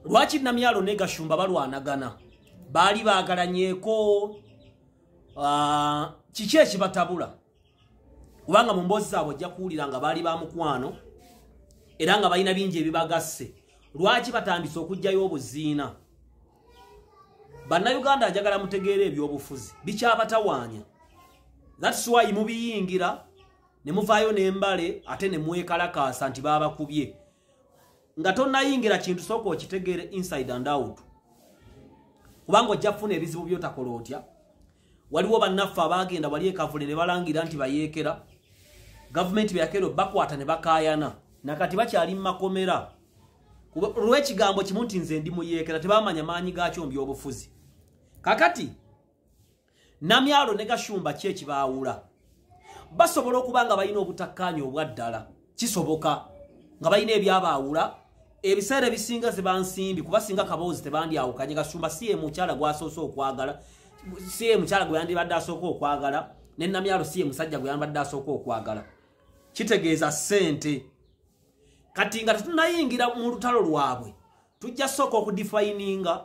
lwaki namyalo ne gashumba balwanagana baali baagalanyeko ah, kiki ekibatabula kubanga mu mboozi zaabwe ojja kuwulira nga baali ba mukwano era nga balina bingi ebibagasse lwaki batandise okugjayo obuziina bannayuganda ajagala mutegeera ebyobufuzi bikyabatawaanya thats wy mubiyingira ne muvaayo n'embale ate ne mwekalakaasa nti baabakubye nga tonayingira kintu sooka okitegeere inside and out kubanga ojja kufuna ebizibu byotakola otya waliwo bannaffe abaagenda bali ekavule ne balangira nti bayeekera gavumenti beyakeera bakwata ne bakaayana nakati bakyali mu makomera olw'ekigambo kimu nti nze ndi muyeekera tebamanya maanyi gaakyo mu byobufuzi kakati namyalo ne gashumba ki ekibaawula basobola okuba nga balina obutakkaanya obwa ddala kisoboka nga balina ebyabaawula ebiseera ebisinga zibansimbi kuba singa kaboozi tebandyawukanye gashumba si emukyala gwasoose okwagala si emukyala gwe yandibadde asooka okwagala ne namyalo si emusajja gwe yandibadde asooka okwagala kitegeeza ssente kati nga tetunayingira mu lutalo lwabwe tujja sooka okudifayininga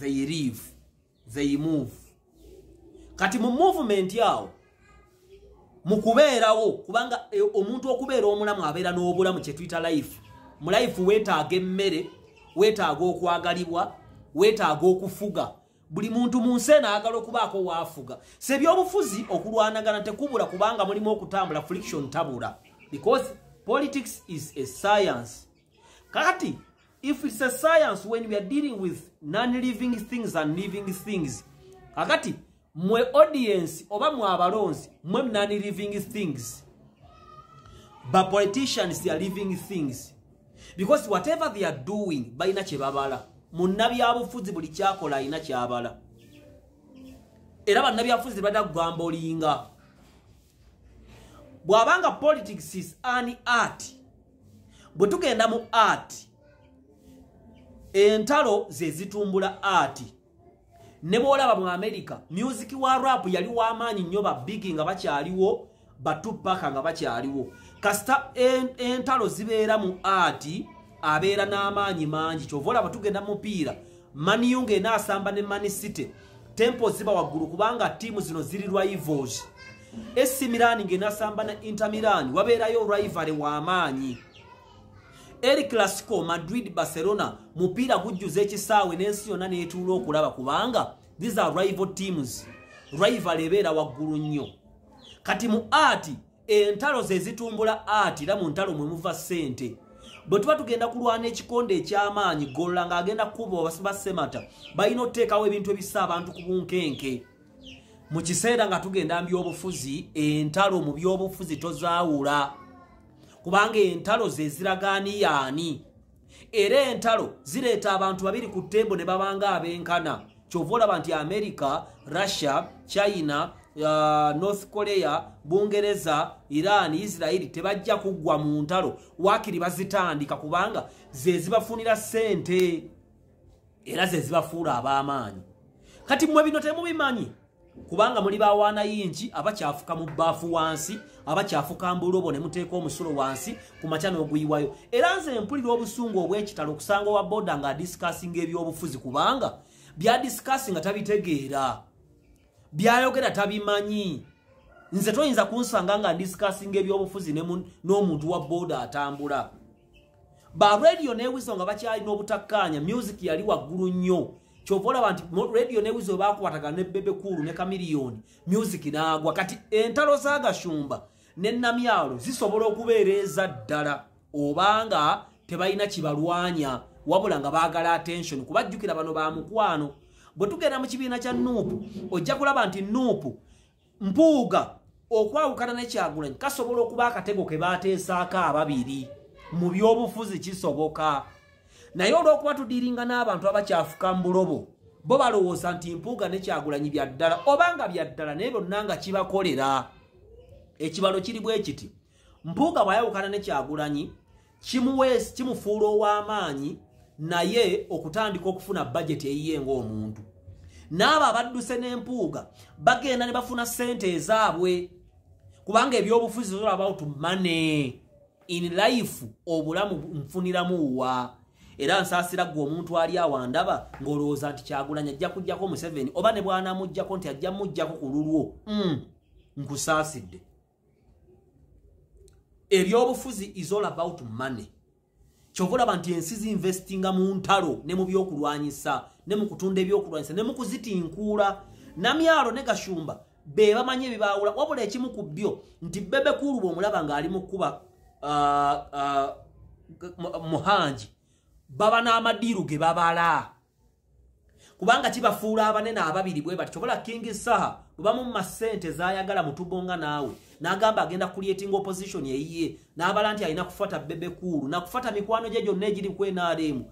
they live they move kati mu movement awo mu kubeerawo kubanga e, omuntu okubeera omulamu abeera n'obulamu kye tuyita life mu life weetaaga emmere weetaaga okwagalibwa weetaaga okufuga buli muntu mu nsi eno ayagala okubaako waafuga sebyobufuzi okulwanagana tekubula kubanga mulimu okutambula friction tabula because politics is a science kati if it's a science when we are dealing with non-living things and living things kakati mwe audience oba mwe abalonzi mwe non-living things but politicians they are living things because whatever they are doing balina kyebabala munnabyabufuzi buli kyakola alina kyabala era bannabyabufuzi bada kugamba olinga bwabanga politics is an art bwe tugenda mu art entalo ze zitumbula art ne bwolaba mu america music wa rap yali w'amaanyi nnyo ba bigi nga bakyaliwo batupaka nga bakyaliwo kasita entalo zibeera mu art abeera n'amaanyi mangi kyova olaba tugenda mupiira maniyu ng'enaasamba ne mani city tempo ziba waggulu kubanga ttiimu zino ziri rivals AC Milan ng'enasamba na Inter Milan wabeerayo rivalry w'amaanyi. El Clasico Madrid Barcelona mupiira gujjuza ekisaawe n'ensi yonna n'etuula okulaba kubanga these are rival teams rival ebeera waggulu nnyo kati mu aati entalo ze zitumbula aati era mu ntalo mwe muva ssente bwe tuba tugenda kulwana ekikonde eky'amaanyi golola ng'agenda kukuba basemata balina okuteekawo ebintu ebissa abantu ku bunkenke mu kiseera nga tugenda mu byobufuzi entalo mu byobufuzi tozaawula kubanga entalo ze ziragaani yaani era entalo zireeta abantu babiri ku ttembo ne babanga abenkana kyova olaba nti amerika russia china uh, north korea bungereza iran israeli tebajja kuggwa mu ntalo waakiri bazitandika kubanga ze zibafunira ssente era ze zibafuula ab'amaanyi kati mmwe bino temubimanyi kubanga muli bawaana yinki abakyafuka mu bbaafu wansi abakyafuka mbulobo ne muteeka omusulo wansi ku makya n'oguyiwayo era nze mpulira obusungu obw'ekitalo okusanga owa boda nga adisikasinga ebyobufuzi kubanga byadisikasi nga tabitegeera byayogera tabimanyi nze toyinza kunsanga nga ndisikasinga ebyobufuzi n'omuntu wa boda atambula ba radio ne wizo nga bakyali n'obutakkaanya music yali waggulu nnyo kyova olaba nti radio ne wizo bakwataga ne bebe kuulu ne kamiliyoni music naagwa kati entalo za gashumba ne namyalo zisobola okubeera eza ddala obanga tebalina kibalwanya wabula nga baagala attention kuba jjukira bano ba mukwano bwe tugenda mu kibiina kya nuupu ojja kulaba nti nuupu mpuuga okwawukana ne kyagulanyi kasobola okuba akatego ke baateesaako ababiri mu by'obufuzi kisoboka naye olw'okuba tudiringa n'abantu abakyafuka mu bulobo bo balowooza nti mpuuga ne kyagulanyi bya ddala oba nga bya ddala naye byonna nga kibakolera ekibalo kiri bwe kiti mpuuga bw'ayawukana ne kyagulanyi kimuweesi kimufuula ow'amaanyi naye okutandika okufuna bajeti eyiye ng'omuntu n'abo abadduse n'empuuga bagenda ne bafuna ssente ezaabwe kubanga ebyobufuzi zol about money in life obulamu nfuniramu wa era nsaasira ggwe omuntu ali awo andaba ng'olowooza nti kyagulanya ajja kujjako museveni oba ne bwanamugjako nti ajja mugjako ku lulwo mm. nkusaasidde ebyobufuzi is all about money kyova olaba nti ensi zinvestinga mu ntalo ne mu byokulwanyisa ne mu kutunda ebyokulwanyisa ne mu kuzitinkuula namyalo ne gashumba be bamanyi ebibaawula wabula ekimu ku byo nti bebe kuulu bwomulaba ng'ali mu kkuba uh, uh, muhangi baba n'amadiiru ge babala kubanga kibafuula abanene ababiri bwe bati kyobola king saha bwebamumma ssente zayagala mutugonga naawe n'agamba agenda kulietinga opposition eyiye n'abala nti alina kufata bebekuulu nakufata mikwano gye gyonna egiri ku nrm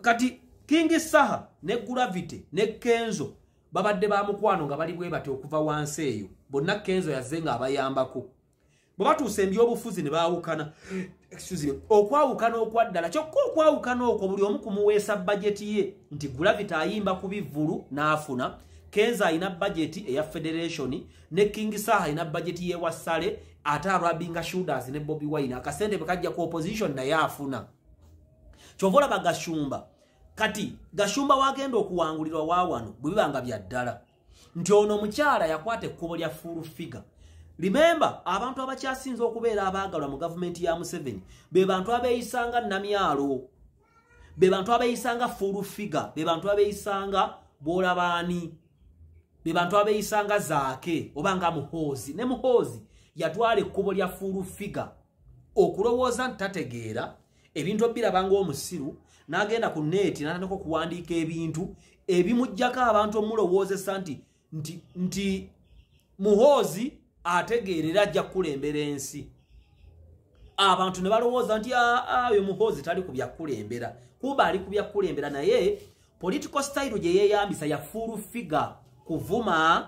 kati king saha ne gravity ne kenzo babadde ba mukwano nga bali bwe bati okuva wansi eyo bonna kenzo yazze nga abayambako bwe batuusa ebyobufuzi ne baawukana okwawukana okwaddala kyokka okwawukana okwo buli omu kumuweesa bajeti ye nti gulavita ayimba ku bivvulu n'afuna kenza alina bajeti eya federation ne king saha alina bajeti yewa sale ate arabinga shooters ne bobi wine akasente bwekajja ku opposition naye afuna kyova olaba gashumba kati gashumba wagenda okuwangulirwa wawano bwebibanga byaddala nti ono omukyala yakwata ekkubo lya full figure remember abantu abakyasinze okubeera abaagalwa mu gavumenti ya museveni be bantu abeeyisanga namyalo be bantu abeeyisanga full figure be bantu abeeyisanga bwolabaani be bantu abeeyisanga zaake oba nga muhoozi ne muhoozi yatwala ekkubo lya full figure okulowooza nti tategeera ebintu obiraba ng'omusiru n'agenda ku neeti n'atandika okuwandiika ebintu ebimugjako abantu omulowoozesa nti nti nti muhoozi ategeerera ajja kukulembera ensi abantu ne balowooza nti ah, ah, oyo muhoozi tali ku byakukulembera kuba ali ku byakukulembera naye political style gye yeeyambisa ya full figure kuvuma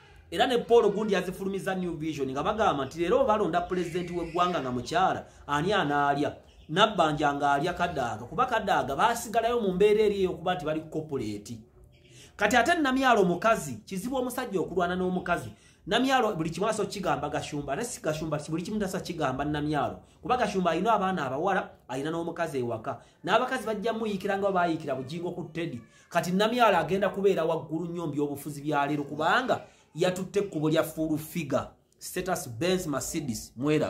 era ne paul gundi azifulumiza new vision nga bagamba nti leero balonda pulezidenti w'eggwanga nga mukyala ani anaalya nabbanja ng'alya kadaaga kuba kadaaga baasigalayo mu mbeera eri eyokuba nti bali kopuleeti kati ate namyalo omukazi kizibu omusajja okulwana n'omukazi namyalo buli kimu aso kigamba gashumba ate si gashumba buli kimu tasa kigamba namyalo kuba gashumba alina abaana abawala alina n'omukazi ewaka n'abakazi bajja muyiikira nga bayiikira bugingo ku teddy kati namyalo agenda kubeera waggulu nnyo mbyobufuzi byaleero kubanga yatutte ekkubo lya full figure status benz mercedes mwera